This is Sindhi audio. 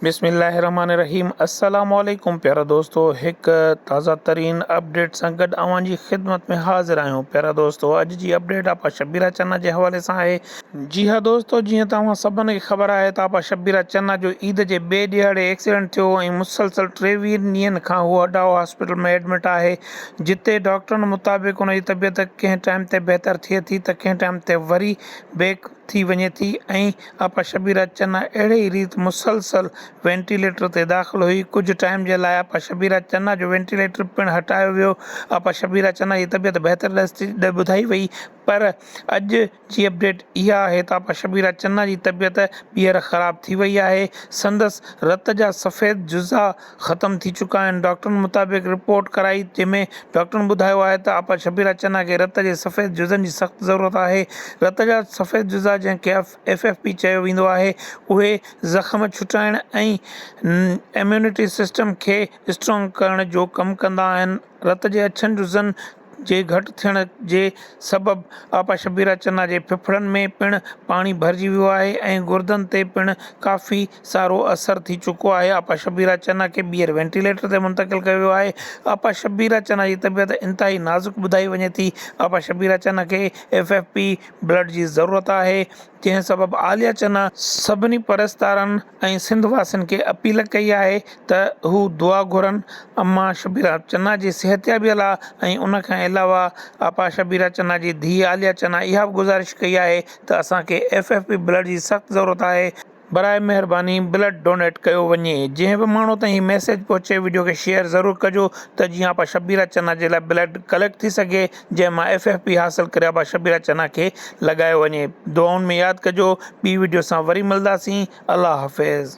بسم الله الرحمٰن الرحيم السلام عليڪم پيارا دوستو هڪ تازه ترين اپڊيٽ سان گڏ اوهان جي خدمت ۾ حاضر آهيون پيارا دوستو اڄ جي اپڊيٽ آپا شبيرا چنا جي حوالي سان آهي جي ها دوستو جيئن ته اوهان سڀن کي خبر آهي ته آپا شبيرا چنا جو عيد جي ٻئي ڏيهاڙي ايڪسيڊنٽ ٿيو ۽ مسلسل ٽيويهن ڏينهن کان هو اڊائو هاسپيٽل ۾ ايڊمٽ آهي جتي ڊاڪٽرن مطابق ان جي طبيعت ڪنهن ٽائيم تي بهتر ٿئي ٿي ته ڪنهن ٽائيم تي وري بيڪ ٿي وڃي ٿي ۽ آپا شبيرا چنا اهڙي ئي ريت مسلسل وينٽيليٽر تي داخل هئي، ڪجهه ٽائيم جي لاء آپا شبيرا چنا جو وينٽيليٽر پڻ هٽايو ويو، آپا شبيرا چنا جي طبيعت بهتر ڏس ٻڌائي وئي پر اڄ جي اپڊيٽ اها آهي ته آپا شبيرا چنا جي طبيعت ٻيهر خراب ٿي وئي آهي، سندس رت جا سفيد جزا ختم ٿي چڪا آهن ڊاڪٽرن مطابق رپورٽ ڪرائي جنهن ۾ ڊاڪٽرن ٻڌايو آهي ته آپا شبيرا چنا کي رت جي سفيد جزن جي سخت ضرورت آهي رت جا سفيد جزا جنهن کي ايف ايف پي چيو ويندو آهي اهي زخم ڇٽائڻ ۽ اميونٽي سسٽم کي اسٽرانگ ڪرڻ جو ڪم ڪندا آهن رت جي اڇن جزن جي گهٽ ٿيڻ جي سبب آپا شبيره چنا جي ڦڦڙن ۾ پڻ پاڻي ڀرجي ويو آهي ۽ گردن تي پڻ ڪافي سارو اثر ٿي چڪو آهي آپا شبيره چنا کي ٻيهر وينٽيليٽر تي منتقل ڪيو ويو آهي آپا شبيره چنا جي طبيعت انتهائي نازڪ ٻڌائي وڃي ٿي آپا شبيره چنا کي ايف ايف پي بلڊ جي ضرورت آهي جنهن سبب عاليه چنا سڀني پرستارن ۽ سنڌ واسين کي اپيل ڪئي آهي ته هو دعا گهرن اما شبيره چنا جي صحتيابيء لاء ۽ ان کان علاوه آپا شبيره چنا جي ڌيء عاليه چنا اها به گذارش ڪئي آهي ته اسان کي ايف ايف پي بلڊ جي سخت ضرورت آهي براء مهرباني بلڊ ڊونيٽ ڪيو وڃي جنهن به ماڻهو تائين هي ميسيج پهچي وڊيو کي شيئر ضرور ڪجو ته جيئن آپا شبيره چنا جي لاء بلڊ ڪليڪٽ ٿي سگهي. جنهن مان ايف ايف پي حاصل ڪري ابا شبيرا چنا کي لڳايو وڃي دعائن ۾ ياد ڪجو ٻي وڊيو سان وري ملداسين الله حافظ.